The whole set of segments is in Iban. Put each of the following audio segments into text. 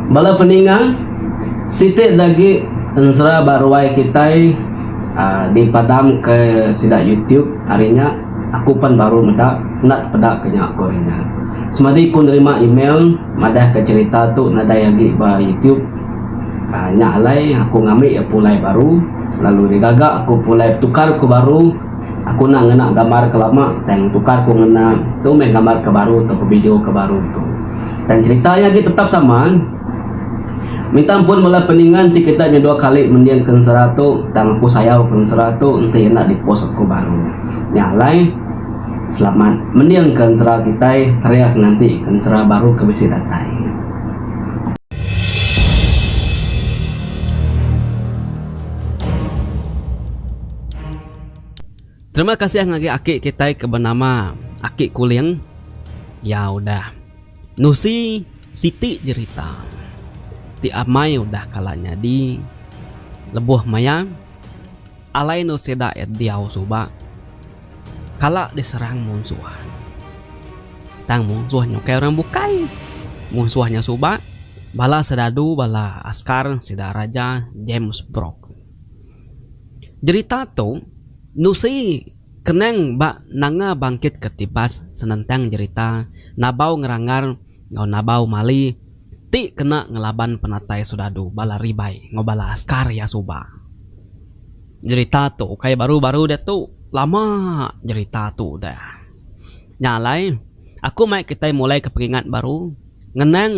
Bala peninga, siti dagi enzra ba ruai kitai aaa di padam ke sida youtube ari nya aku pan baru meda enda tepeda ke nya ko ari nya. Semadi ku nerima email madah ke cerita tu nadai agi ba youtube aaa nya alai aku ngambi ya pulai baru lalu nya gaga aku pulai petukar ku baru. Aku enda ngena gambar ke lama tang tukar ku ngena tu meh gambar ke baru tauka video ke baru tu. Tang cerita iya agi tetap sama. Minta ampun bala peningan ti kitai nya dua kali mending ke ensera tu tang aku sayau ke ensera tu enti enda di post aku baru. Nya alai selamat mending ke ensera kitai seriah nganti ke ensera baru ke bisi datai. Terima kasih ngagai aki kitai ke benama Aki Kuling. Iya udah nusi siti jerita ti amai udah kala nyadi lebuh maya alai endur sida iya diau suba kala diserang munsuh. Tang munsuh nya ukai orang bukai. Munsuh nya suba bala serdadu bala askar sida Raja James Brooke. Jerita tu nusi kenang ba Nanga Bangkit ke Tibas senentang jerita Nabau Ngeranggar enggau Nabau Mali ti kena ngelaban penatai soldadu bala ribai enggau bala askar iya suba. Jerita tu ukai baru-baru diatu, lama jerita tu udah. Nya alai, aku mai kitai mulaika pengingat baru, ngenang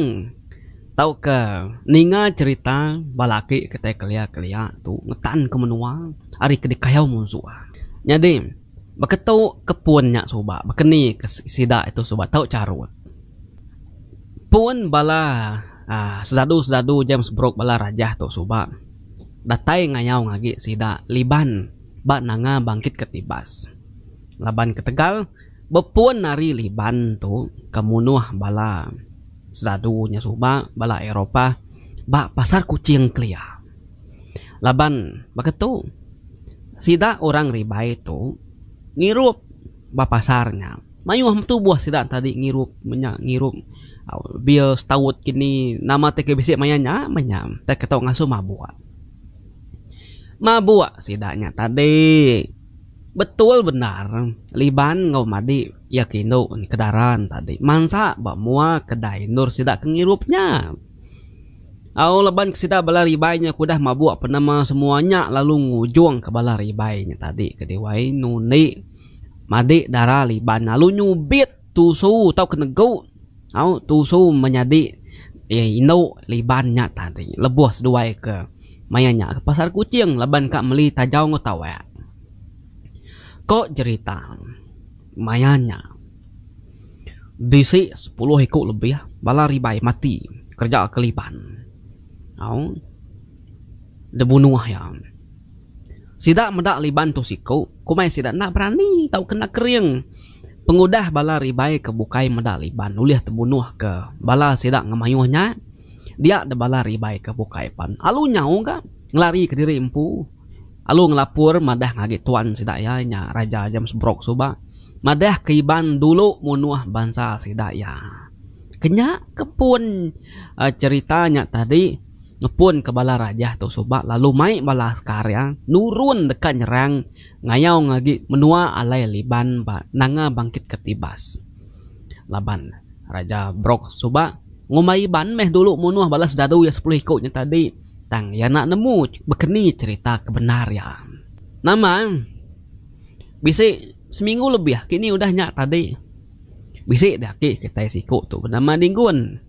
tauka ninga cherita bala aki kitai kelia-kelia tu ngetanka menua ari ke dikayau munsuh. Nyadi, baka tu ke pun nya suba, baka ni ke sida tu suba tau charut. Pun bala uhh sesadu-sesadu James Brooke bala rajah tu suba datai ngayau agi sida liban ba nanga bangkitka tibas. Laban ketegal bepun ari Liban tu ke munuh bala sradu nya suba, bala Eropah ba Pasar Kuching kelia. Laban baka tu, sida orang Ribai tu ngirup ba pasar nya. Mayuh betubuh sida enti agi ngirup menya ngirup beer stout ke ni nama ti ke bisi maya nya meh nya tau ke tau ngasuh mabuk. Mabuk sida nya tadi. Betul bendar Liban enggau Madi iya ke indu Kedaran tadi mansa ba mua kedai endur sida ke ngirup nya. Au laban ke sida bala ribai nya ke udah mabuk penemu semua nya lalu ngujung ke bala ribai nya tadi ke diwai nundi Madi dara Liban lalu nyubit. Tusu tau ke negu au tusu menyadi iya indu liban nya tadi lebuh seduai ke maya nya ke pasar kuching laban ka meli tajau enggau tawek. Ko jerita maya nya bisi sepuluh iku lebih bala ribai mati kereja ke liban au dibunuh iya. Sida meda liban tu siku komai sida enda berani tau ke nda kering. Pengudah bala ribai ke bukai meda Liban ulih tebunuh ke bala sida ngemayuh nya, dia deh bala ribai ke bukai pan alu nyau ga ngelari ke diri empu alu ngelapur madah ngagi tuan sida iya nya Raja James Brooke suba madah ke Iban dulu munuh bansa sida iya. Kenya ke pun cherita nya tadi ngepun ke bala raja tu suba lalu mai bala askar iya nurun deka nyerang Ngayaung agi menua alai Liban ba Nanga Bangkit Ketibas laban Raja Brok suba ngumbai Iban meh dulu munuh bala sedadu iya sepuluh iku nya tadi tang iya enda nemu bekeni cherita ke bendar iya. Nama bisi seminggu lebih kini udah nya tadi bisi dah agi kitai siku tu benama Dinggun.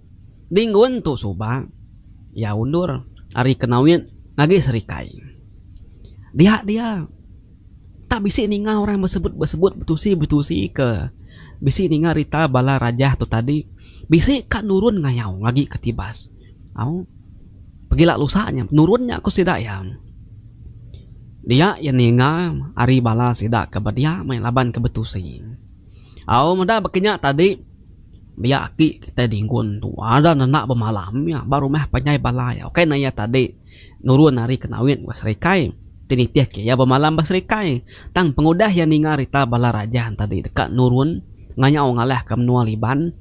Dinggun tu suba iya undur ari Kenawit ngagi Serikai. Dia dia tak bisi ninga orang besebut besebut betusi betusi ke bisi ninga rita bala rajah tu tadi bisi ka nurun ngayau agi ke tibas au pegila lusa nya nurun nya ku sida iya. Dia iya ninga ari bala sida ke bedia meh laban ke betusi au meda baka nya tadi dia aki kitai Dingun tu ada nanda bemalam iya ba rumah panjai bala iya ukai ne iya tadi. Nurun ari ke nawit ba serikai, ti nitihka iya bemalam ba serikai. Tang pengudah iya ninga rita bala raja entadi deka nurun ngayau ngalahka menua Liban,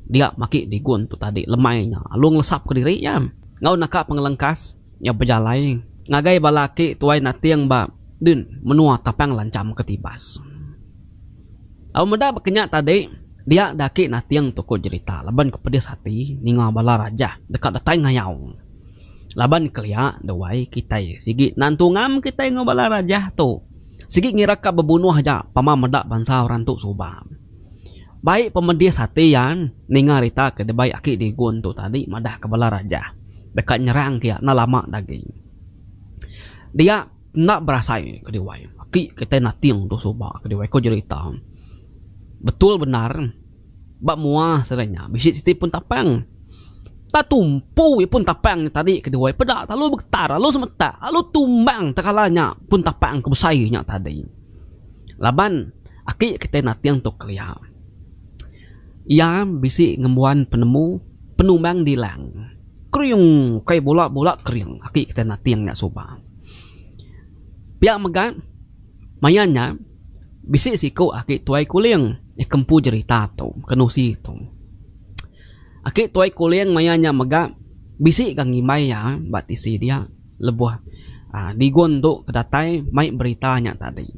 dia maki digun tu tadi lemai nya lalu ngelesapka diri iya. Enggau naka pengelengkas, iya bejalai ngagai bala aki tuai nating ba din menua Tapang Lancham ke Tibas. Lalu meda ba kenya tadi, dia daki nating tu ku jerita laban ke pedis ati ninga bala raja deka datai ngayau. Laban kelia da wai kitai sigi nan tungam kitai enggau bala rajah tu sigi ngira ka bebunuh aja pama meda bansa orang tu suba. Bai pemedis ati iya ninga rita ke dibai aki Digun tu tadi madah ke bala rajah deka nyerang ke iya enda lama da agi. Dia enda berasai ke diwai aki kitai Nating tu suba ke diwai ko jerita betul bendar. Ba mua serai nya bisi siti pun tapang. Ba tumpu ipun tapang nya tadi ke duai peda lalu begetar lalu semetak lalu tumbang tekala nya pun tapang ke besai nya tadi. Laban aki kitai nating tu kelia. Iya bisi ngembuan penemu penumbang dilang. Kering ukai bula bula kering aki kitai nating nya suba. Pia mega maia nya. Bisi siku aki tuai kuling nya ke empu jerita tu ke nusi tu. Aki tuai kuling maya nya mega bisi ga ngimbai iya ba tisi dia lebuh aaa Digon tu ke datai mai berita nya tadi.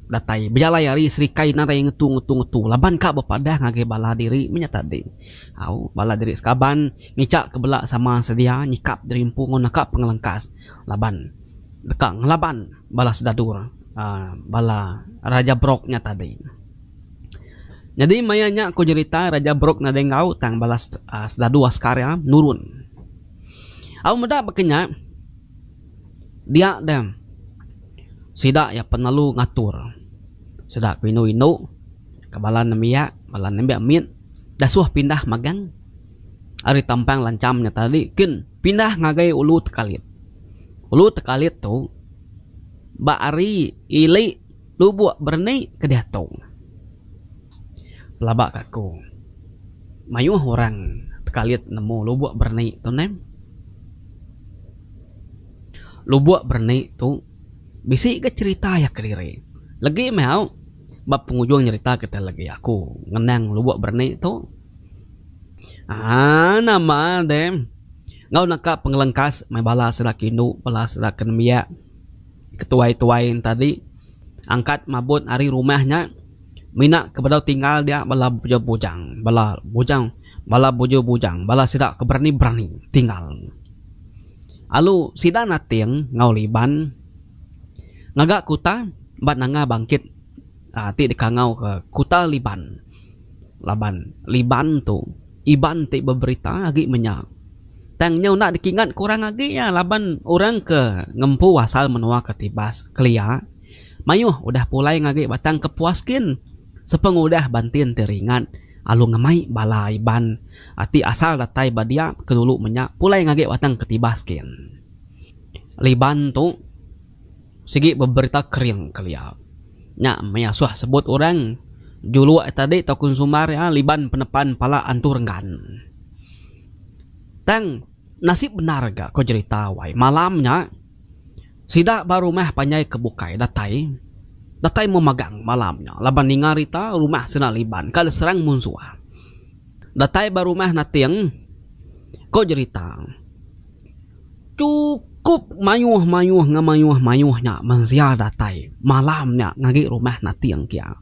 Datai bejalai ari serikai nadai ngetu ngetu ngetu laban ka bepadah ngagai bala diri meh nya tadi. Au bala diri sekaban ngica ke bela sama sedia nyikap diri empu ngau naka pengelengkas laban deka ngelaban bala sedadur. bala Raja Brok nya tadi. Nyadi maya nya ku nyerita Raja Brok nadai enggau tang bala sdadu askar iya nurun. Au meda baka nya dia deh sida iya penelu ngatur sida ku indu indu ka bala nembiak bala nembiak mit dasuh pindah magang ari tampang lancham nya tadi kin. pindah ngagai Ulu Tekalit. Ulu Tekalit tu ba ari ili Lubok Berni ke diatu. Pelaba ka aku, mayuh orang Tekalit nemu Lubok Berni tu neh. Lubok Berni tu bisi ga cherita iya kediri. Legi meh au ba pengujung cherita kitai legi aku ngenang Lubok Berni tu. Haa nama deh enggau naka pengelengkas meh bala sida ke indu bala sida ke nembiak ke tuai-tuai nya tadi angkat mabut ari rumah nya mina ke bedau tinggal dia bala bujang-bujang bala bujang bala bujur-bujang bala sida ke berani-berani tinggal. Alu sida nating enggau liban ngaga kuta ba nanga bangkit ti dikangau ke kuta liban. laban Iban tu Iban ti beberita agi menya. Tang nyau enda dikingat ke orang agi iya laban orang ke ngempu asal menua Ketibas, Kelia, mayuh udah pulai ngagi batang kepuas gin sepengudah bantin ti ringat alu ngemai bala Iban ti asal datai ba dia ke dulu menya pulai ngagi batang Ketibas gin. Iban tu. Sigi beberita kering kelia nya maya suah sebut orang juluk tadi tau konsumer iya liban penepan pala antu renggan. Tang nasib bendar ga ko jerita wai malam nya sida ba rumah panjai ke bukai datai datai meh magang malam nya laban ninga berita rumah sida liban ka diserang munsuh. Datai ba rumah nating ko jerita. Chukup mayuh-mayuh enggau mayuh-mayuh nya mensia datai malam nya ngagai rumah Nating kiya.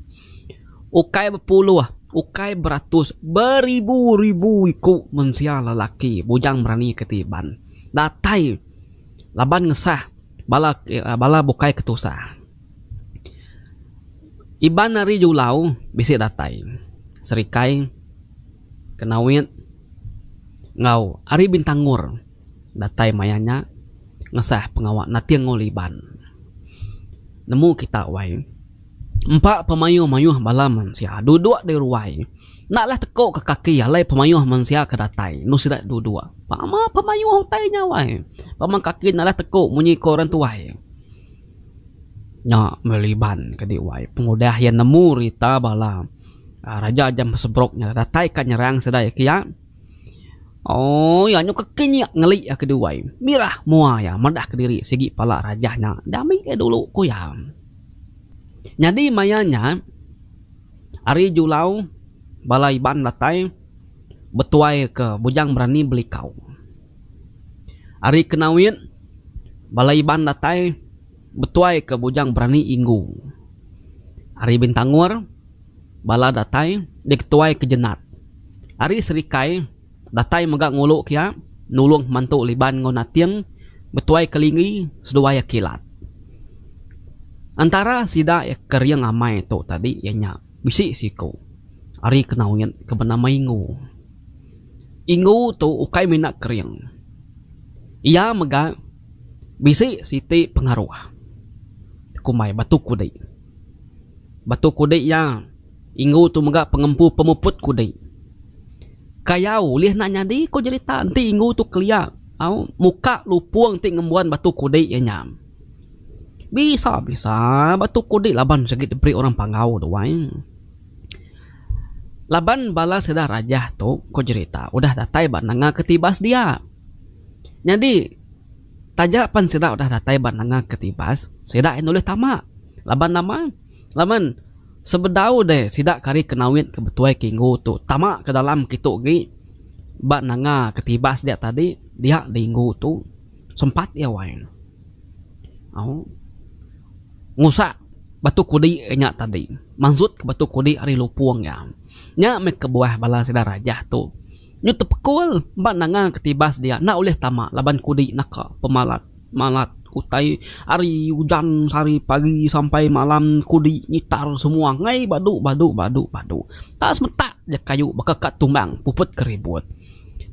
Ukai bepuluh, ukai beratus, beribu-ribu iku mensia lelaki bujang berani ke ti Iban datai laban ngesah bala bala bukai ke tusah. Iban ari Julau bisi datai serikai. Kenawit enggau Ari Bintangor datai maya nya ngesah pengawa Nating Ngol Iban. Nemu kita wai, empa pemayuh-mayuh bala mensia duduk di ruai enda leh teko ke kaki alai pemayuh mensia ke datai enu sida duduk. Pama pemayuh utai nya wai. Pama kaki enda leh teko munyi ko orang tuai. Nya meli Iban kadi wai pengudah iya nemu rita bala. Raja jam besebrok nya datai ka nyerang sidai ke iya. Ooii anyu ke king nya ngeli iya ke duai. Mirah mua iya medah kediri sigi pala raja nya dami iya dulu ku iya. Nyadi maya nya ari julau bala Iban datai betuai ke Bujang Berani Belikau. Ari kena wit bala Iban datai. Betuai ke bujang berani inggu. Ari Bintangor, bala datai diketuai ke Jenat. Ari Serikai, datai mega ngulu ke iya nulung Mantu Liban enggau Nating betuai ke Linggi seduai iya kilat. Entara sida ke ring amai tu tadi iya nya bisi siku ari Kenawit ke benama Inggu. Inggu tu ukai mina ke ring. Iya mega. Bisi siti pengaruh kumbai batu kudi. Batu kudi iya inggu tu mega pengempu pemuput kudi. Kayau ulih enda nyadi ku jerita enti inggu tu kelia au muka lupung ti ngembuan batu kudi iya nya. Bisa bisa batu kudi laban sigi diberi orang pangau tu ai. Laban bala sida rajah tu ku jerita udah datai ba nanga ke tiba sedia. Nyadi, taja pan sida udah datai ba nanga ke tibas, sida ain ulih tama. Laban nama? Laban sebedau deh sida ke ari Kenawit ke betuai ke inggu tu tama ke dalam kitu agi ba nanga ke tibas dia tadi, dia di inggu tu sempat iya wai au ngusak batu kudi iya nya tadi, manzut ke batu kudi ari lupung iya. Nya meh kebuah bala sida Rajah tu. Nyu tepekul ba nanga ke tibas dia enda ulih tama laban kudi naka pemalat malat utai ari ujan sehari pagi sampai malam kudi ngitar semua angai badu badu badu badu enda semetak ja kayu baka ka tumbang puput ke ribut.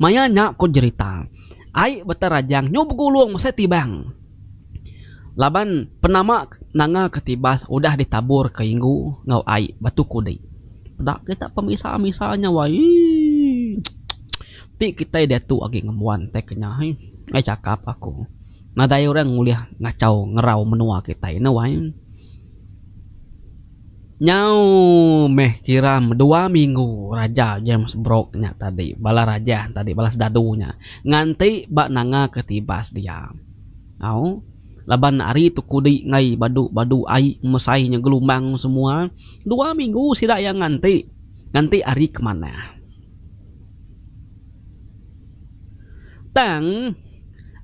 Maya nya ku jerita ai Batarajang nyu begulung mesai tibang. Laban penama nanga ketibas udah ditabur ke inggu enggau ai batu kudi. Peda kita pemisa misa nya wai eii. Ti kitai diatu agi ngembuan tai ke nya eii. Ai chakap aku nadai orang ulih ngachau ngerau menua kitai nya wai. Nyau meh kira dua minggu raja James Brooke nya tadi bala raja tadi bala sedadu nya nganti ba nanga ketibas dia. Au. Laban ari tu kudi enggai badu badu ai mesai nya gelumbang semua dua minggu sida iya nganti. Nganti ari ke manah. Tang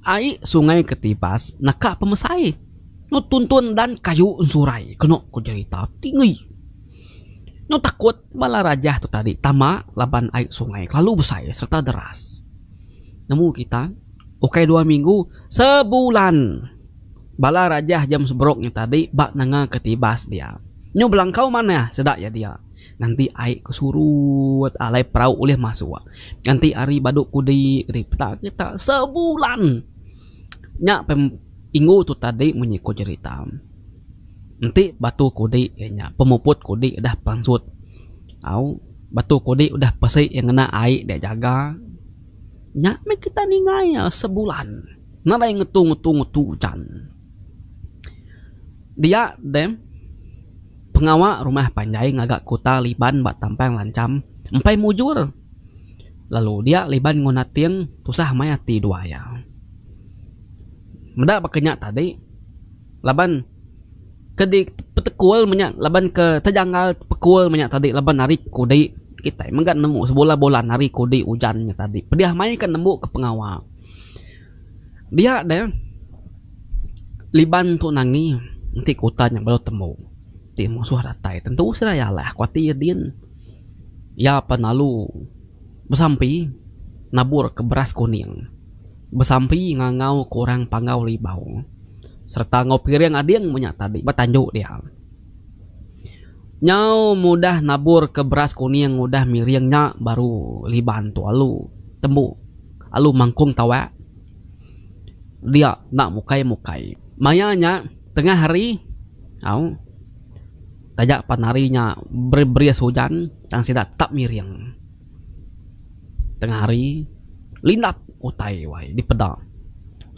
ai sungai ke tibas naka pemesai nyu tuntun dan kayu ensurai keno ku jerita ti ngi nyu takut Bala rajah tu tadi tama laban ai sungai kelalu besai sereta deras. Nemu kita, ukai dua minggu, sebulan bala rajah jam seberuk nya tadi ba nanga ke tibas dia. Nyu belangkau manah seda iya dia nganti ai ke surut alai perau ulih masuk nganti ari badu kudi kedi peda kita sebulan. Nya pen ingu tu tadi munyi ku jerita enti batu kudi iya nya pemuput kudi udah pansut au batu kudi udah pesi iya ngena ai dia jaga nya meh kita ninga iya sebulan nadai ngetu ngetu ngetu ujan. Dia deh pengawa rumah panjai ngaga kuta Liban ba Tampang Lancham empai mujur. lalu dia liban enggau nating tusah maya ati dua iya. Meda baka nya tadi laban ke dipetekul menya laban ke tejanggal pekul menya tadi laban ari kudi kitai mega nemu sebulan bulan ari kudi ujan nya tadi pedih maya ika nemu ka pengawa dia de liban tun angi enti ke utan nya baru tembu ti musuh datai tentu seraya lah aku ati ya din. Iya pan lalu besampi naburka beras kuning, besampi ngangauka orang Panggau Libau sereta enggau piring ading menya tadi ba tandu dia. Nyau mudah naburka beras kuning udah miring nya baru Liban tu alu tembu alu mangkung tawak dia enda mukai-mukai. Maya nya tengah hari au. Taja pan hari nya beris ujan tang sida tetap ngiring. Tengah hari, lindap utai wai dipeda.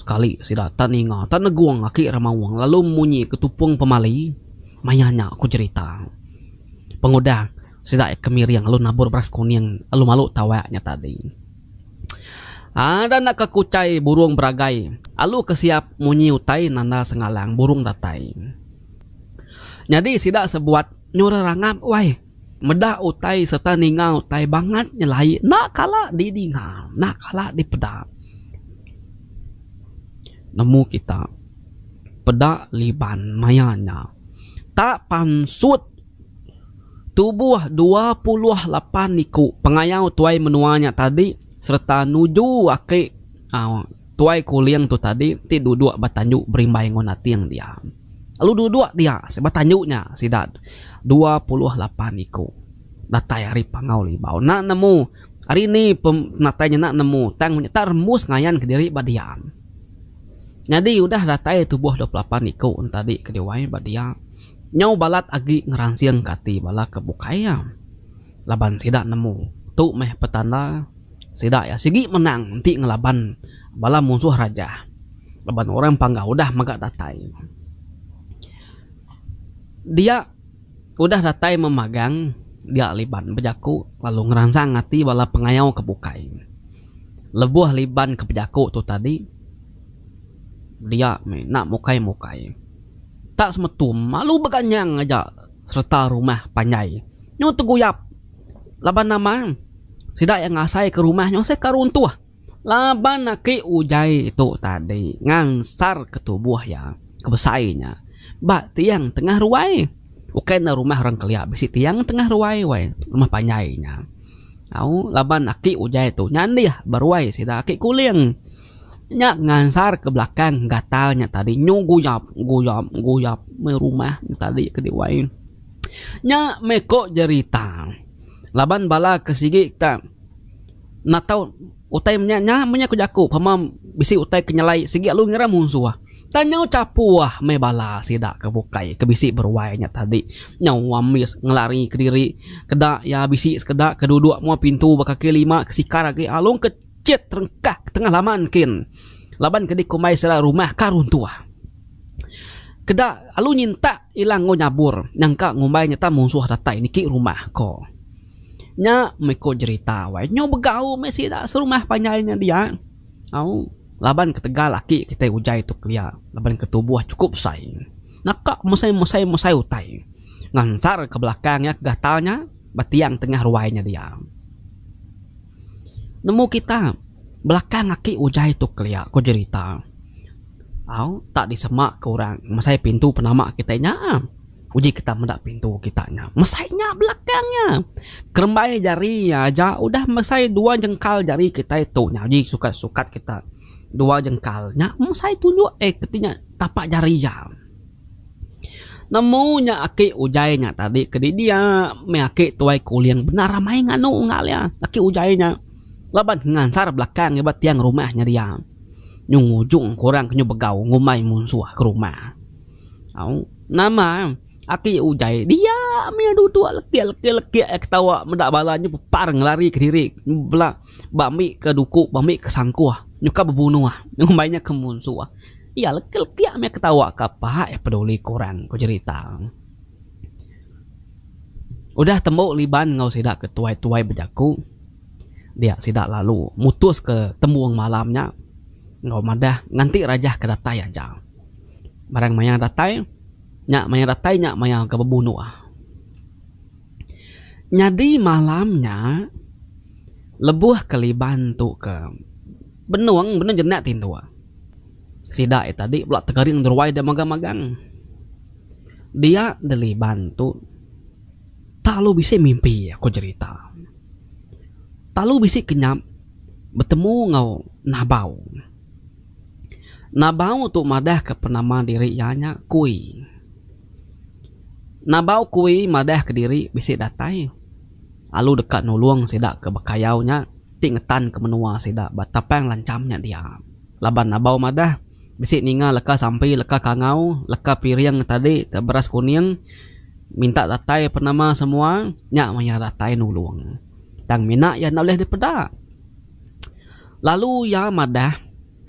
Sekali sida tak ninga tak negung aki Remaung lalu munyi ke tupung pemali maya nya ku jerita. Pengudah sida ke miring lalu nabur beras kuning lalu malu tawak nya tadi. Ada naka kuchai burung beragai alu ke siap munyi utai nanda sengalang burung datai. Nyadi sida sebuat nyuruh rangap wai meda utai serta ninga utai bangat nyelai enda kala didinga enda kala dipeda. Nemu kita peda liban maya nya ta pansut tubuh dua puluh lapan iku pengayau tuai menua nya tadi serta nuju ake uhh. Tuai Kuling tu tadi ti duduk ba tanju berimbai enggau Nating dia. Lalu duduk dia ba tanju nya sida dua puluh lapan iku datai ari Pangau Libau enda nemu ari ni penatai nya enda nemu tang inya tak rembus ngayan kediri ba dia. Nyadi udah datai tubuh dua puluh lapan iku enti tadi ke diwai ba dia nyau balat agi ngeransingka ati bala ke bukai iya. laban sida nemu tu meh petanda sida iya sigi menang enti ngelaban bala munsuh raja laban orang pangga udah mega datai dia udah datai memagang dia Liban bejaku lalu ngeransang ati bala pengayau ke bukai. Lebuh Liban ke bejaku tu tadi dia meh enda mukai-mukai tak semetum lalu beganyang aja. sereta rumah panjai nyu teguyap laban nama sida iya ngasai ke rumah nyu seh ka runtuh laban aki ujai tu tadi ngansar ke tubuh iya ke besai nya ba tiang tengah ruai ukai ne rumah orang kelia bisi tiang tengah ruai wai rumah panjai nya au laban aki ujai tu nyandih ba ruai sida aki kuling. Nya ngansar ke belakang gatal nya tadi nyu guyap guyap guyap meh rumah nya tadi ke di wai. Nya meh ko jerita laban bala ke sigi ka enda tau utai menya nya meh nya ku jaku pema bisi utai ke nyelai sigi lalu ngira munsuh. Tang nyau chapuh meh bala sida ke bukai ke bisi beruai nya tadi nyau ambis ngelari kediri keda iya bisi sekeda ke duduk mua pintu bekaki lima ke sikar agi alung ke. chet terengkah ke tengah laman kin laban ke dikumbai sida rumah ka runtuh. Keda alu nyintak ila enggau nyabur nyangka ngumbai nyata munsuh datai niki rumah ko. Nya meh ko jerita wai nyu begau meh sida serumah panjai nya dia au laban ketegal aki kitai ujai tu kelia laban ke tubuh chukup besai naka mesai mesai mesai utai ngansar ke belakang iya ke gatal nya. ba tiang tengah ruai nya diam. Nemu kita belakang aki ujai tu kelia, ko jerita. Au, tak disemaka orang mesai pintu penama kitai nya. Uji kita meda pintu kita nya. Mesai nya belakang nya. Kerembai jari aja udah mesai dua jengkal jari kitai tu nya uji sukat sukat kita. Dua jengkal nya mesai tunjuk eh keti nya tapak jari iya. Nemu nya aki ujaie nya tadi ke di dia meh aki tuai kuling bendar amai nganu unggal iya aki ujaie nya laban ngansar belakang iya ba tiang rumah nya dia nyu ngujung ke orang ke nyu begau ngumbai munsuh ke rumah au nama aki ujaie dia meh duduk lekek lekek lekek iya ketawa meda bala nyu pepar ngelari kediri bela. ba ambi ka duku ba ambi ka sangkuh nyuka bebunuh ngumbai nya ke munsuh iya legi legi mih aku tau ka apa ai peduli ku orang ku jerita udah tembu liban enggau sida ke tuai tuai bejaku dia sida lalu mutus ke tembung malam nya enggau madah nganti rajah ke datai aja barang maya datai nya maya datai nya maya ke bebunuh. Nyadi malam nya lebuh ke Liban tu ke benung benung jenak ti endur. Sida iya tadi pula tegering deruai dia magang magang. Dia de Liban tu tak lalu bisi mimpi aku jerita. Tak lalu bisi kenyap betemu enggau Nabau. Nabau tu madah ke penama diri iya nya Kui. Nabau Kui madah ke diri bisi datai lalu deka nulung sida ke bekayau nya ti ngetan ke menua sida ba tapang lancham nya dia. Laban Nabau madah bisi ninga leka sampi leka kangau leka piring tadi te beras kuning minta datai penama semua nya maya datai nulung tang mina iya enda ulih dipeda lalu iya madah.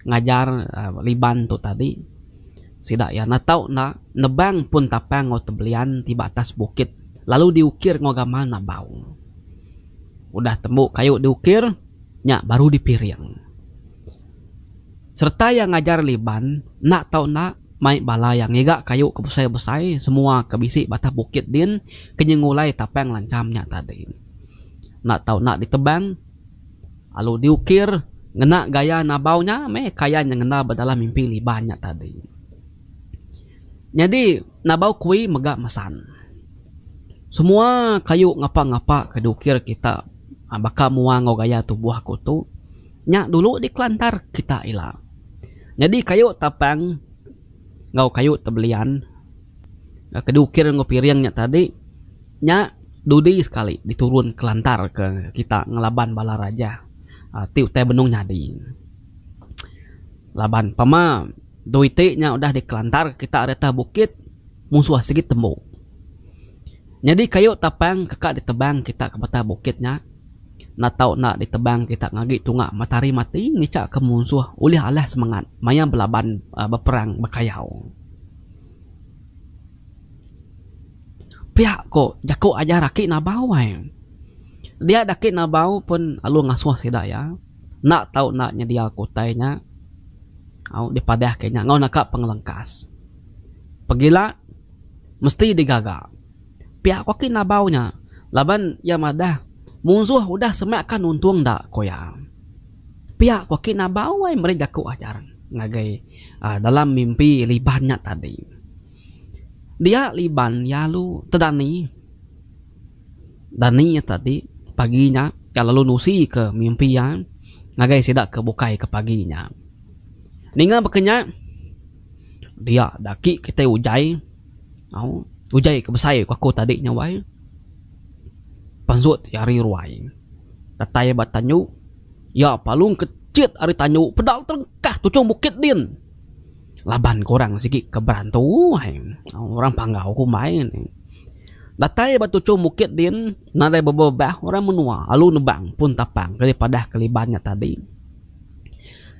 ngajar Liban tu tadi sida iya netau enda nebang pun tapang enggau tebelian ti ba atas bukit lalu diukir enggau gamal nabau. Udah tembu kayu diukir nya baru dipiring. Sereta iya ngajar Liban enda tau enda mai bala iya ngiga kayu ke besai-besai semua ke bisi ba atas bukit din ke nyengulai tapang lancham nya tadi. Enda tau enda ditebang. Alu diukir ngena gaya nabau nya meh kaya nya ngena ba dalam mimpi Liban nya tadi. Nyadi nabau kui mega mesan. Semua kayu ngapa-ngapa ke diukir kita baka mua enggau gaya tubuh aku tu nya dulu dikelantar kita ila. Nyadi kayu tapang enggau kayu tebelian ke diukir enggau piring nya tadi. Nya dudi sekali diturun kelantar ke kita ngelaban bala raja ti utai benung nyadi. Laban pama dui ti nya udah dikelantar ke kita ari atas bukit musuh sigi tembu. Nyadi kayu tapang ke ka ditebang kita ke batang bukit nya enda tau enda ditebang kita ngagi tunga matahari mati ngica ke musuh ulih alah semangat maya belaban beperang bekayau. Pia ko jako ajar aki nabau ai. Dia daki nabau pun lalu ngasoh sida iya enda tau enda nyedia ko utai nya au dipadah ke nya enggau naka pengelengkas. Pegila mesti digaga. Pia ko aki nabau nya laban iya madah munsoh udah semak ka nuntung enda ko iya. Pia ko aki nabau ai meri jako ajar ngagai dalam mimpi liban nya tadi. Dia liban iya lalu tedani. Dani iya tadi pagi nya iya lalu nusi ke mimpi iya ngagai sida ke bukai ke pagi nya. Ninga baka nya dia da agi kitai ujai au ujai ke besai ku aku tadi nya wai pansut iya ari ruai datai ba tanyu iya palung ke chit ari tanyu peda terengkah tuchong bukit din. laban kurang sigi ke berantu ai orang panggau kumbai neh. Datai ba tuchum bukit din nadai bebebah orang menua alu nebang pun tapang ke dipadah Keliban nya tadi.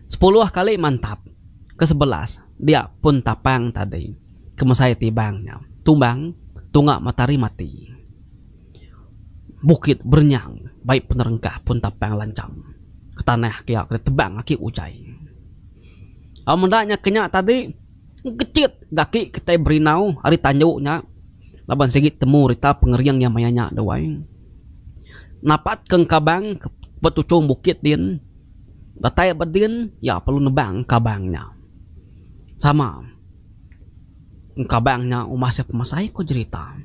Sepuluh kali mantap ke sebelas dia pun tapang tadi ke mesai tibang nya tumbang tunga matahari mati. Bukit berenyang bai penerengkah pun tapang lancham ke tanah ke ditebang aki utai. Au meda nya ke nya tadi engkechit ke aki kitai Berindau ari tandu nya laban sigi temu rita pengering iya maya nya tu ai. Napat ke engkabang ba tuchung bukit din datai ba din iya perlu nebang engkabang nya sama engkabang nya umbah sia pemasai ku jerita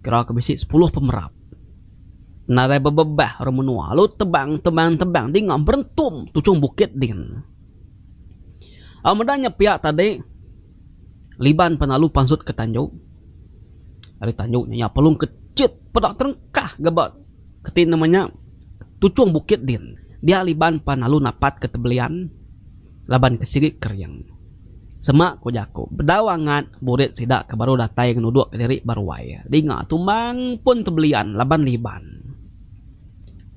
kira ke bisi sepuluh pemerap. Nadai bebebah orang menua lalu tebang tebang tebang dinga berentum tuchung bukit din. Au meda nya pia tadi Liban penalu pansut ke tanju. Ari tanju nya iya pelung ke chit peda terengkah ga ba keti nama nya tuchung bukit din. Dia Liban penalu napat ke tebelian. laban ke sigi kering. Sema ku jaku, bedau angat burit sida ke baru datai ngenuduk ke diri ba ruai dinga tumbang pun tebelian laban liban.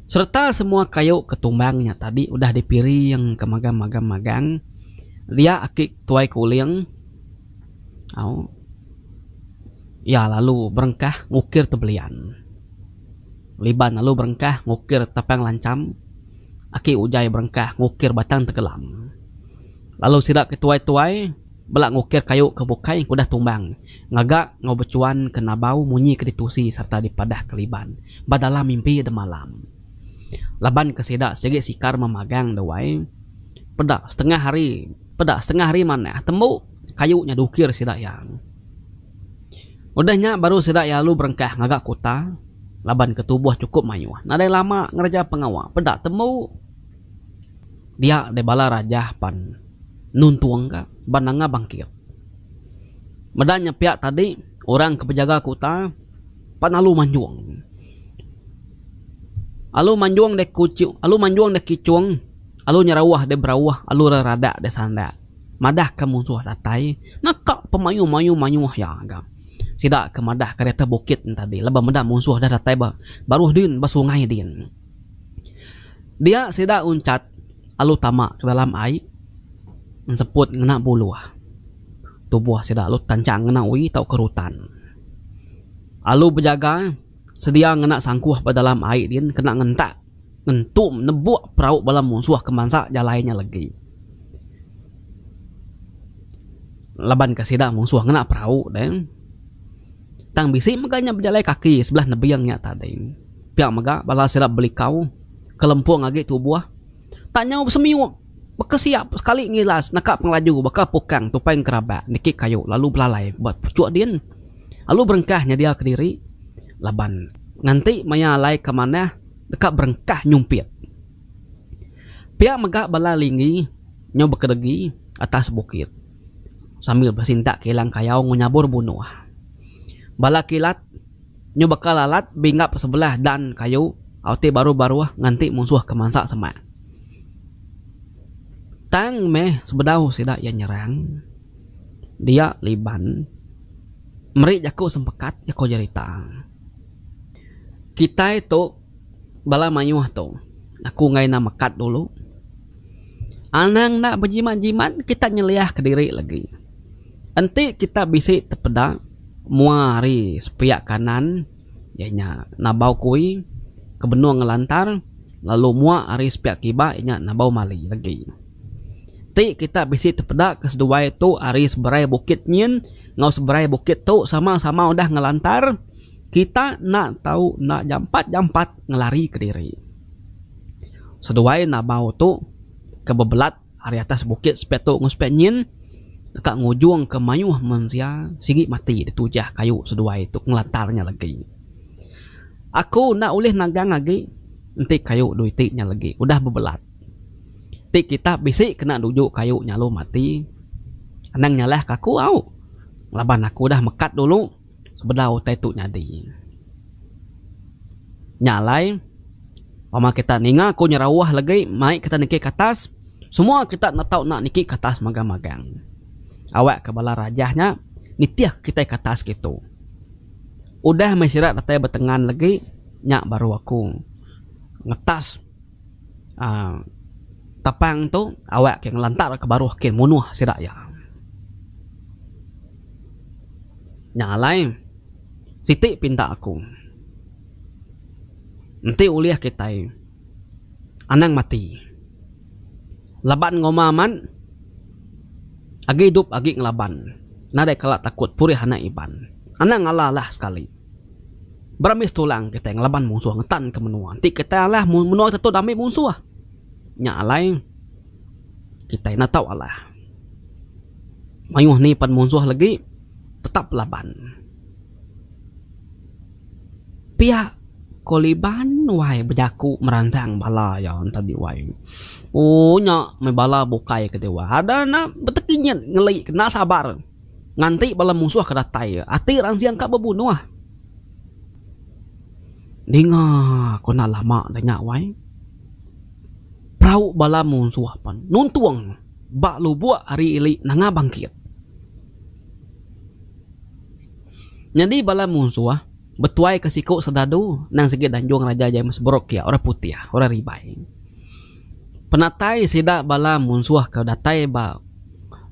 Sereta semua kayu ke tumbang nya tadi udah dipiring ke magam-magam magang dia aki tuai kuling au iya lalu berengkah ngukir tebelian. Liban lalu berengkah ngukir tapang lancham. Aki Ujai berengkah ngukir batang tengkelam. Lalu sida ke tuai-tuai bela ngukir kayu ke bukai engku udah tumbang ngaga enggau bechuan ke nabau munyi ke ditusi sereta dipadah ke liban ba dalam mimpi demalam. Laban ke sida sigi sikar memagang dewai peda setengah hari peda setengah hari manah tembu kayu nya diukir sida iya. Udah nya baru sida iya alu berengkah ngaga kuta laban ke tubuh chukup mayuh. Nadai lama ngereja pengawa peda tembu dia deh bala rajah pan nuntung ka ba nanga bangkit. Meda nya pia tadi orang ke bejaga kuta pan alu manjung. Alu manjung deh kuchu alu manjung deh kichung alu nyerauh deh berauh alu reradak deh sandak. madahka munsuh datai ngeka pemayuh-mayuh mayuh iya ga. Sida ke madahka di atas bukit nya tadi laban meda munsuh dah datai ba baruh din ba sungai din. Dia sida uncat lalu tama ke dalam ai enseput ngena buluh tubuh sida lalu tanchang ngena uii tauka rutan. Lalu bejaga sedia ngena sangkuh ba dalam ai din kena ngentak. ngentum nebuk perau bala munsuh ke mansa jalai nya legi. Laban ke sida munsuh ngena perau deh. Tang bisi mega nya bejalai kaki sebelah nebing nya tadi. Pia mega bala sida belikau kelempung agi tubuh tak nyau besemiup. Baka siap sekali ngilas naka pengelaju baka pukang tupai ngerabak niki kayu lalu belalai ba puchuk din lalu berengkah nyediaka diri laban nganti maya alai ka manah deka berengkah nyumpit. Pia mega bala Linggi nyau bekedegi atas bukit sambil besintak kilang kayau enggau nyabur bunuh. Bala kilat. Nyu baka lalat binggap sebelah dan kayu au ti baruh baruh nganti munsuh ke mansa semak. Tang meh sebedau sida iya nyerang dia liban meri jaku sempekat jaku jerita kitai tu. Bala mayuh tu, aku enggai enda mekat dulu. Anang enda bejimat-jimat, kita nyeliahka diri lagi. Enti kita bisi tepeda mua ari sepiak kanan iya nya Nabau Kui ke benung ngelantar lalu mua ari sepiak kiba iya nya Nabau Mali lagi. Ti kita bisi tepeda ke seduai tu ari seberai bukit nyin enggau seberai bukit tu sama-sama udah ngelantar. Kita enda tau enda jampat-jampat ngelarika diri. Seduai Nabau tu ke bebelat ari atas bukit sepiak tu enggau sepiak nyin deka ngujungka mayuh mensia sigi mati ditujah kayu seduai tu ngelantar nya legi. Aku enda ulih nagang agi enti kayu dui ti nya legi udah bebelat. Ti kita bisi kena nuju kayu nya lalu mati. Anang nyalahka aku au laban aku udah mekat dulu. sebedau utai tu nyadi. Nya alai wang kita ninga ku nyerauh lagi mai kita niki katas semua kita enda tau enda niki katas magang-magang. Awak ka bala rajah nya nitih kitai katas kitu. Udah meh sida datai betengan lagi nya baru aku ngetas. Tapang tu awak ke ngelantar ke baruh ke munuh sida iya. Nya alai siti pinta aku enti ulih kitai anang mati laban ngoma amat agi idup agi ngelaban nadai kala takut purih anak Iban. Anang alah lah sekali. Beramis tulang kitai ngelaban munsuh ngetanka menua enti kitai alah mun menua kita tu dah ambi munsuh nya alai kitai enda tau alah. Mayuh ni pen munsuh legi tetap laban. Pia ko Liban wai bejaku meransang bala iya enti di wai. Ohh nya meh bala bukai ke diwa ada enda betegi nyit ngeli kena sabar. Nganti bala munsuh ke datai iya, ati ransing ka bebunuh. Ninga ku enda lama deh nya wai, perau bala munsuh pen nuntung ba lubuk ari ili Nanga Bangkit. Nyadi bala munsuh betuai ke siku Serdadu nang sigi Danjung Raja James Brooke iya, orang putih, orang ribai. Penatai sida bala munsuh ke datai ba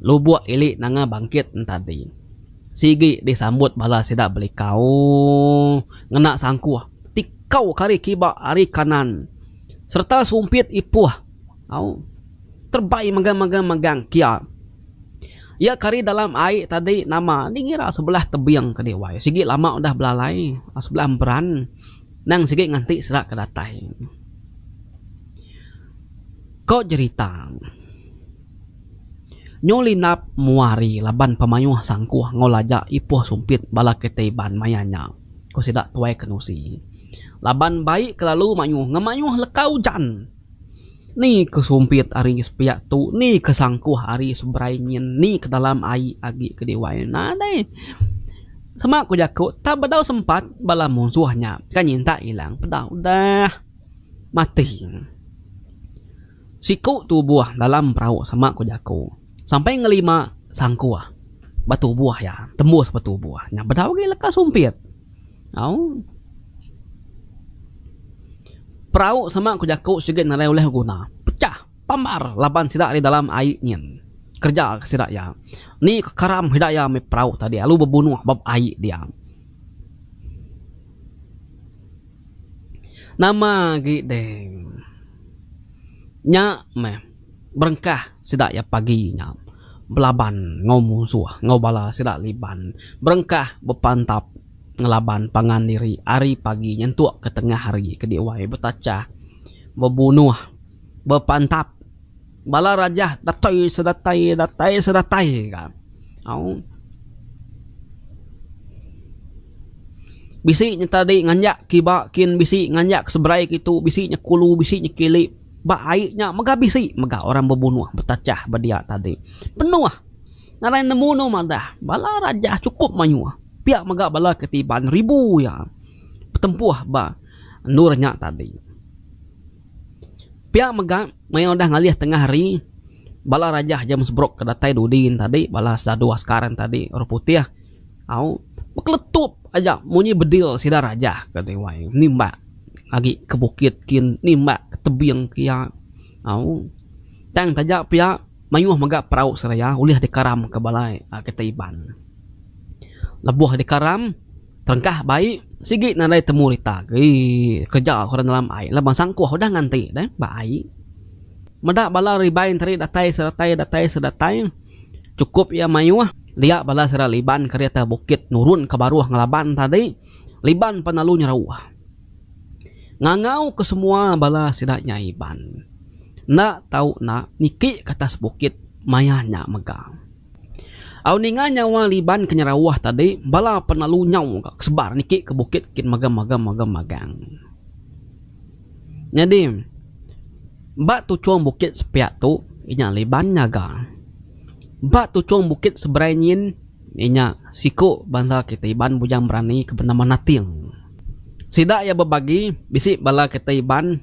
lubuk ili Nanga Bangkit entadi sigi disambut bala sida belikau ngena sangkuh ti kau ke ari kiba ari kanan sereta sumpit ipuh au terebai megang-megang megang kia. Iya ke ari dalam ai tadi nama ni ngira sebelah tebing ke diwai sigi lama udah belalai sebelah emperan. Nang sigi nganti serak ke datai. Ko jerita. Nyu Linap mua hari laban pemayuh sangkuh enggau lajak ipoh sumpit bala kereta Iban maya nya, ko sida Tuai Kenusi. Laban bai kelalu mayuh ngemayuh leka ujan. Ni ke sumpit ari sepiak tu ni ke sangkuh ari seberai nyin ni ke dalam ai agi ke diwai nadai sema ku jaku tang bedau sempat bala munsuh nya ke nyintak ilang pedau dah mati siku tubuh dalam perau sema ku jaku sampai ngelima sangkuh betubuh iya tembus betubuh nya bedau agi leka sumpit. Au. Perau sama ku jaku sigi nadai ulih beguna. Pecah. Pambar laban sida ari dalam ai nyin. Kereja ka sida iya. Ni ka karam sida iya mih perau tadi lalu bebunuh ba ai dia. Nama agi deh. Nya meh. Berengkah sida iya pagi nya belaban enggau munsuh enggau bala sida Liban. Berengkah bepantap ngelaban pangan diri ari pagi nyentuk ke tengah hari ke diwai betachah bebunuh bepantap bala raja datai sedatai datai sedatai ka. Au. Bisi nyetadi nganjak kiba kin bisi nganjak seberai kitu bisi nyekulu bisi nyekili. Ba ai nya mega bisi mega orang bebunuh betachah ba dia tadi. Penuh ngagai nemu anu madah bala raja chukup mayuh pia mega bala ke tiban ribu iya betempuh ba endur nya tadi. Pia mega maya udah ngalih tengah hari bala raja James Brooke ke datai dudi nya tadi bala sadu askar nya tadi orang putih. Au bekeletup aja munyi bedil sida raja ke Dewan nimbak agi ke bukit kin nimbak ke tebing ke iya. Au tang taja pia mayuh mega perau seraya ulih dikaram ke bala kitai Iban. Lebuh dikaram terengkah bai sigi nadai temu rita agi kereja orang dalam ai laban sangkuh udah nganti deh ba ai. Meda bala Iban tadi datai sedatai datai sedatai. Chukup iya mayuh, liak bala sida Liban kerita bukit nurun ke baruh ngelaban tadi, Liban pan lalu nyerauh. Ngangau ke semua bala sida nya Iban. Enda tau enda, niki ke atas bukit maya nya mega. Au ninga nyawa Liban ke nyerauh tadi, bala pan lalu nyau ga ke sebar niki ke bukit kin megem-megem megem magang. Nyadi, ba tuchung bukit sepiak tu inya Liban ngaga. Ba tuchung bukit seberai nyin inya siku bansa kitai Iban bujang berani ke benama Nating. Sida iya bebagi bisi bala kitai Iban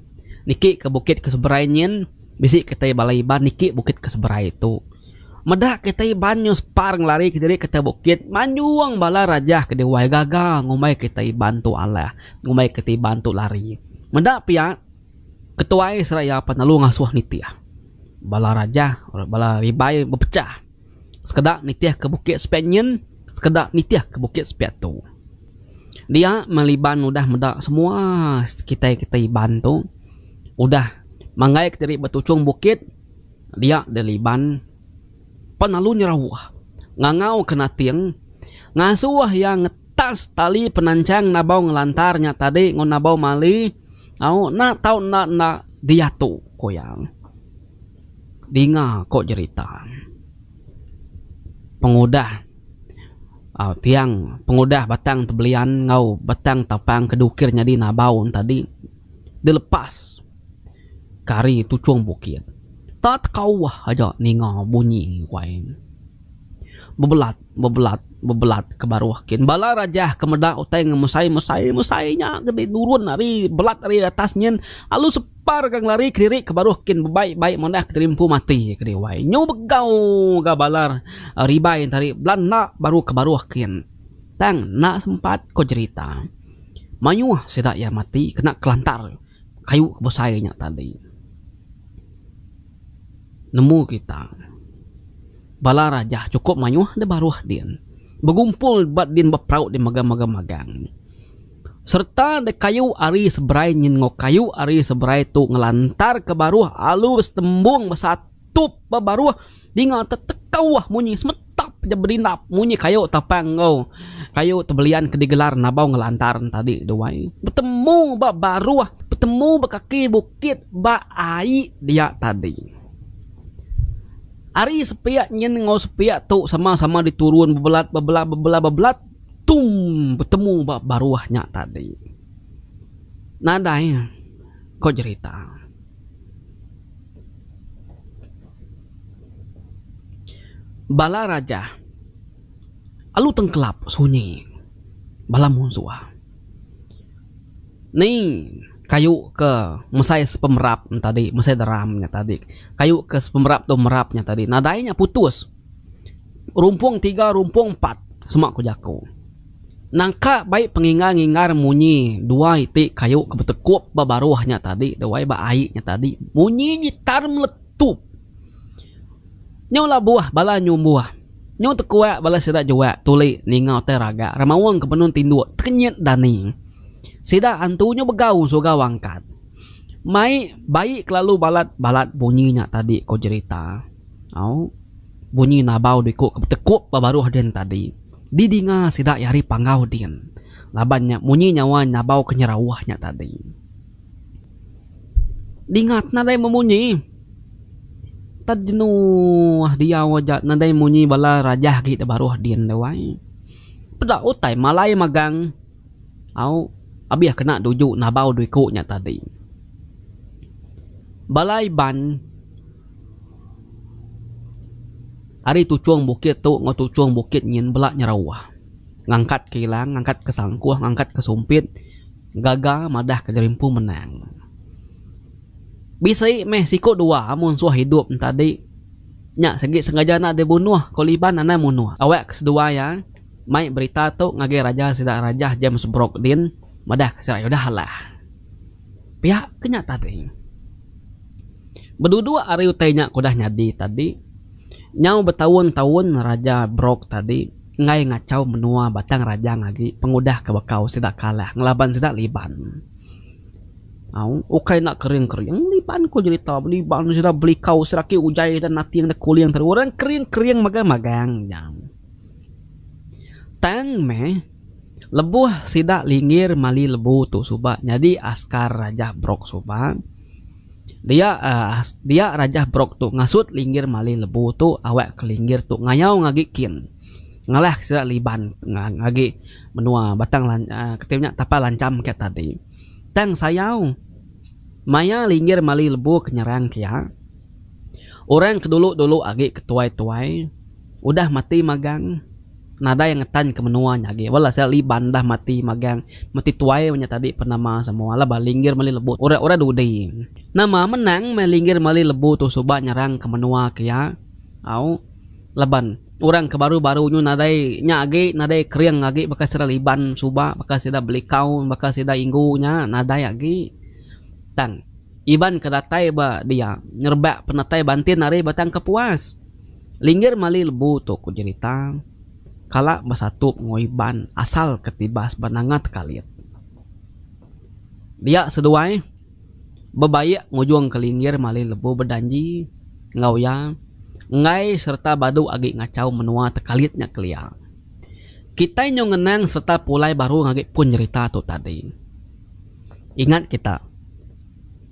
niki ke bukit ke seberai nyin, bisi kitai bala Iban niki bukit ke seberai tu. Meda kita Iban nyau separ ngelari kediri ke atas bukit manjung bala rajah ke diwai gaga ngumbai kita Iban tu alah ngumbai kita Iban tu lari. Meda pia ketuai seraya penelu ngasuh nitih. Bala rajah bala ribai bepecah sekeda nitih ke bukit sepiak nyin sekeda nitih ke bukit sepiak tu. Dia meli Iban udah meda semua kitai kita Iban tu udah manggaika diri ba tuchung bukit. Dia deliban pan lalu nyerauh ngangau ke nating ngasuh iya ngetas tali penanchang nabau ngelantar nya tadi enggau nabau mali au enda tau enda enda diatu ku iya. Dinga ko jerita pengudah au tiang pengudah batang tebelian enggau batang tapang ke dukir nyadi nabau tadi dilepas. kari tuchung bukit. Tak tekauah aja ninga bunyi wai. Bebelat, bebelat, bebelat ke baruh kin bala rajah ke meda utai ngemesai mesai mesai nya kenti nurun ari belat ari atas nyin alu separ ke ngelari kediri ke baruh kin bebai bai manah keterimpu mati kedi wai. Nyu begau ga bala ribai enti hari bela enda baru ke baruh kin tang enda sempat ko jerita. Mayuh sida iya mati kena kelantar. kayu ke besai nya tadi nemu kita bala raja chukup mayuh deh baruh din begumpul ba din beperau din mega mega magang nya sereta deh kayu ari seberai nyin enggau kayu ari seberai tu ngelantar ke baruh alus tembung besatup ba baruh. Dinga te tekauh munyi semetap ja berindap munyi kayu tapang enggau kayu tebelian ke digelar Nabau Ngelantar tadi tu ai. Betemu ba baruh, betemu ba kaki bukit ba ai dia tadi. Ari sepiak nyin enggau sepiak tu sama-sama diturun bebelat bebelat bebelat bebelat tumm betemu ba baruh nya tadi. Nadai ko jerita. Bala raja alu tengkelap sunyi bala munsuh ni kayu ke mesai sepemerap tadi mesai deram nya tadi kayu ke sepemerap tu merap nya tadi nadai nya putus. Rumpung tiga rumpung empat sema ku jaku. Nangka bai pengingar-ngingar munyi dua iti kayu ke betekup ba baruh nya tadi dawai ba ai nya tadi munyi nyitar meletup. Nyau labuh bala nyumbuh. Nyau tekuak bala sida jua tuli ninga utai raga remaung ke benung tinduk tekenyit dani. Sida antu nyau begau surau angkat. Mai bai kelalu balat-balat bunyi nya tadi ku jerita. Au, bunyi nabau diku ke betekup ba baruh din tadi didinga sida iya ari panggau din laban nya munyi nyawa nabau ke nyerauh nya tadi dingat nadai bemunyi. Tad jenuh diau aja nadai munyi bala rajah agi da baruh din tu ai. Peda utai malai magang. Au, abih kena duju nabau diku nya tadi. Bala Iban. Ari tuchung bukit tu enggau tuchung bukit nyin bela nyerauh. Ngangkat ke ilang, ngangkat ke sangkuh, ngangkat ke sumpit gaga madah ke jerimpu menang. Bisi meh siku dua amun suah idup enta di nya sigi sengaja enda di bunuh ko Liban anang munuh. Awak ke sedua iya mai berita tu ngagai raja sida Rajah James Brooke Dean madah ke sida iya udah alah. Pia ke nya tadi. Beduduk ari utai nya ke udah nyadi tadi, nyau betaun-taun Raja Brok tadi enggai ngachau menua Batang Rajang agi pengudah ke bekau sida kalah ngelaban sida Liban. Au, ukai enda kering-kering, Liban ku jerita be, Liban sida belikau sida agi ujai dan nating da kuling tadi. Orang kering-kering magang-magang nya. Tang meh. Lebuh sida linggir mali lebu tu suba nyadi askar Rajah Brok Subang, dia dia Rajah Brok tu ngasut linggir mali lebu tu awakka linggir tu ngayau ngagi kin ngalahka sida liban agi menua Batang Lancham kati nya Tapal Lancham kiya tadi. Tang sayau maya linggir mali lebu ke nyerang kiya, orang ke dulu-dulu agi ke tuai-tuai udah mati magang. nadai ngetan ke menua nya agi wal asal li bandah mati magang mati tuai nya tadi pen nama samoa la ba linggir meli lebu tu ora ora dudi nama menang meh linggir meli lebu tu suba nyerang ke menua ke iya au laban orang ke baru baru nyu nadai nya agi nadai kering agi baka sida liban suba baka sida belikau baka sida inggu nya nadai agi tang. Iban ke datai ba dia ngerebak penatai bantin ari Batang Kepuas. Linggir mali lebu tu ku jerita, kala besatu enggau Iban asal ke tibas ba Nanga Tekalit. Dia seduai bebaik ngujung ke Linggir mali lebu bejanji enggau iya enggai sereta badu agi ngachau menua Tekalit nya kelia. Kitai nyau ngenang sereta pulai baru agi pun jerita tu tadi. Ingat kita,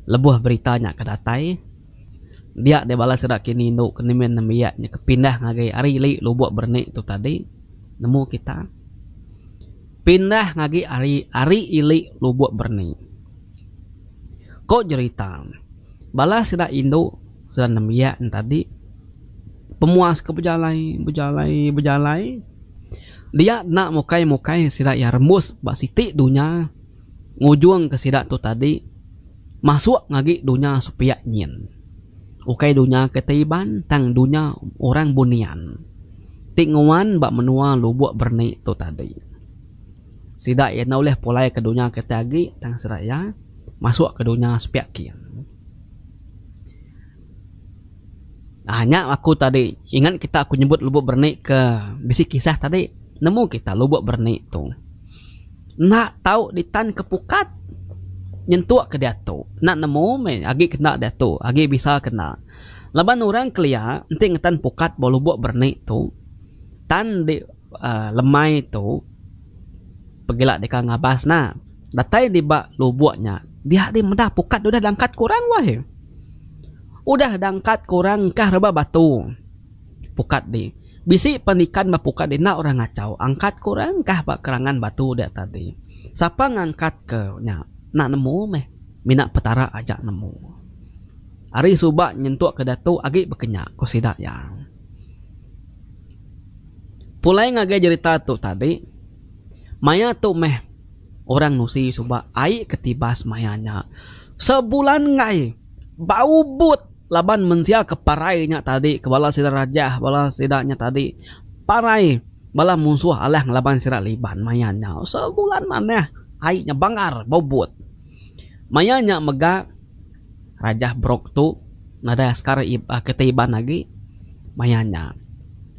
lebuh berita nya ke datai, dia deh bala sida kini indu ke nimin nembiak nya ke pindah ngagai ari li lubuk bernik tu tadi, nemu kita, pindah ngagi ari ari ili lubuk bernik. Ko jerita, bala sida indu sida nembiak nya tadi, pemuas ke bejalai, bejalai, bejalai, dia enda mukai-mukai sida iya rembus ba siti dunya. ngujungka sida tu tadi masuk ngagi dunya sepiak nyin. Ukai dunya ke ti Iban tang dunya orang bunian ti nguan ba menua Lubok Berni tu tadi. Sida iya enda ulih pulaika dunya ke ti agi tang sida iya masukka dunya sepiak kin. Aaa nya aku tadi ingat kita aku nyebut lubok berani ke bisi kisah tadi nemu kita lubok berani tu enda tau ditan ke pukat nyentuk ke diatu enda nemu meh agi kena diatu agi bisa kena laban orang kelia enti ngetan pukat ba lubok berani tu tan di. Lemai tu pegila deka ngabas na. Datai di ba lubok nya dia deh meda pukat udah dangkat ke orang wai. Udah dangkat ke orang engkah rebak batu pukat di. Bisi pen ikan ba pukat di enda orang ngachau angkat ke orang engkah ba kerangan batu dia tadi. Sapa ngangkat ke nya enda nemu meh mina petara aja nemu. Ari suba nyentuk ke diatu agi bekenya ku sida iya. Pulai ngagai jerita tu tadi, maya tu meh orang nusi suba ai ke tibas maya nya. Sebulan enggai ba Ubud laban mensia ke parai nya tadi ke bala sida Rajah bala sida nya tadi parai bala munsuh Alang laban sida Liban maya nya. Sebulan manah ai nya bangar ba Ubud. Maya nya mega. Rajah Brooke tu nadai askar kita Iban agi maya nya.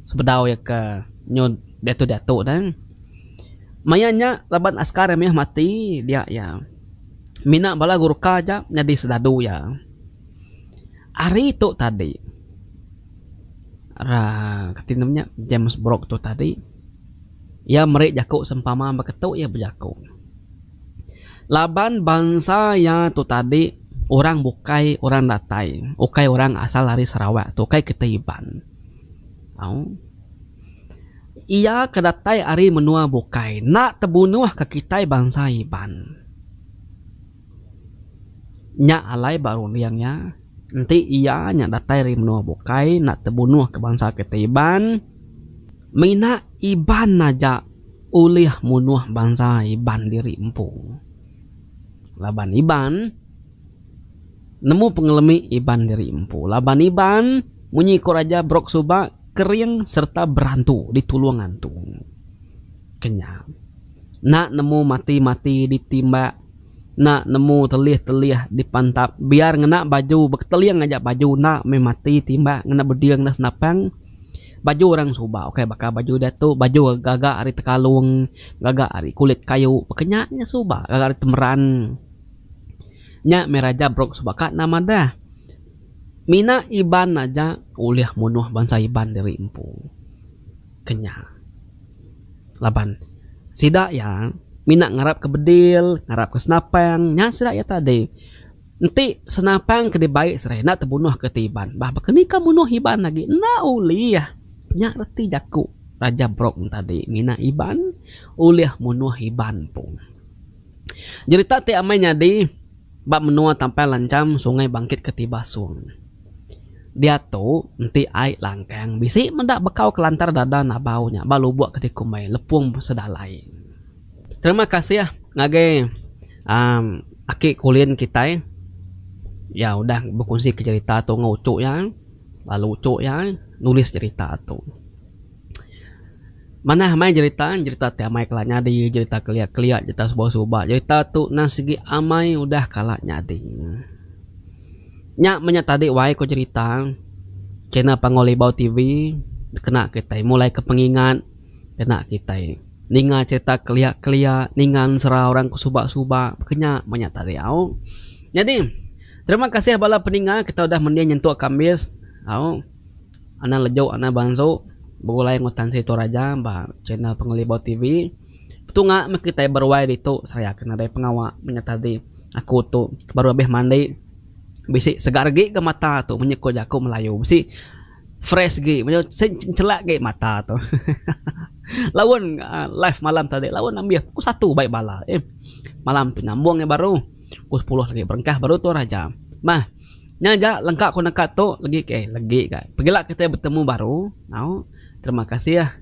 Sebedau iya ke nyun diatu-diatu ne. Maya nya laban askar iya mih mati dia iya mina bala Gurkha aja nyadi serdadu iya. Hari tu tadi uhh kati nama nya James Brooke tu tadi iya meri jaku sempama ba ketu iya bejaku. Laban bansa iya tu tadi orang bukai orang datai ukai orang asal ari Sarawak tu ukai kitai Iban au iya ke datai ari menua bukai enda tebunuh ka kitai bansa Iban nya alai ba runding iya enti iya nya datai ari menua bukai enda tebunuh ka bansa kitai Iban. Mina Iban aja ulih munuh bansa Iban diri empu. Laban Iban nemu pengelemi Iban diri empu. Laban Iban munyi ku Raja Brooke suba kering serta berantu ditulung antu. Kenya. Enda nemu mati-mati ditimbak, enda nemu telih-telih dipantap biar ngena baju beketeling aja baju enda meh mati timbak ngena beding enda senapang. Baju orang suba ukai baka baju diatu, baju gaga ari tekalung, gaga ari kulit kayu, baka nya nya suba gaga ari temeran. Nya meh Raja Brooke suba ka endang madah, Mina Iban aja ulih munuh bansa Iban diri empu ke nya laban sida iya mina ngarapka bedil, ngarapka senapang, nya sida iya tadi. Enti senapang ke dibai serai enda tebunuhka ti Iban bah baka ni ka munuh Iban agi enda ulih. Nya reti jaku Raja Brong tadi ngena Iban ulih munuh Iban empu. Jerita ti amai nyadi ba menua Tampang Lanjam Sungai Bangkit ke ti Basong. Diatu enti ai langkang bisi meda bekau kelantar dada Nabau nya ba lubok ke dikumbai Lepong Sedalai. Terima kasih ngagai um aki kulin kitai iya udah bekunsika cerita tu enggau uchu iya lalu uchu iya nulis cerita tu. Manah meh cerita cerita ti amai kala nyadi cerita kelia kelia cerita suba suba cerita tu nan sigi amai udah kala nyadi. Nya meh nya tadi wai ku cerita channel Pangu Libau TV kena kitai mulaika pengingat kena kitai. Ninga cerita kelia kelia, ninga ensera orang ke suba suba, kenya banyak tarik au. Nyadi terima kasih bala peninga kita udah mending nyentuk ke ambis au. Anang lejuk anang bansu begulai enggau Tan Sri Toraja ba channel Pengelibau TV. Betunga meh kitai beruai ditu seraya ke nadai pengawa menya tadi aku tu baru abis mandi bisi segargi ke mata tu menyekut jaku melayu bisi. Fresh gi chelak gi mata tu laun live malam tadi laun ambis pukul satu baik bala eh malam tu nyambung nya baru pukul sepuluh lagi berengkah baru tu raja meh nya ja lengka ku neka tu legi ke legi ga pegila kitai betemu baru au terima kasih.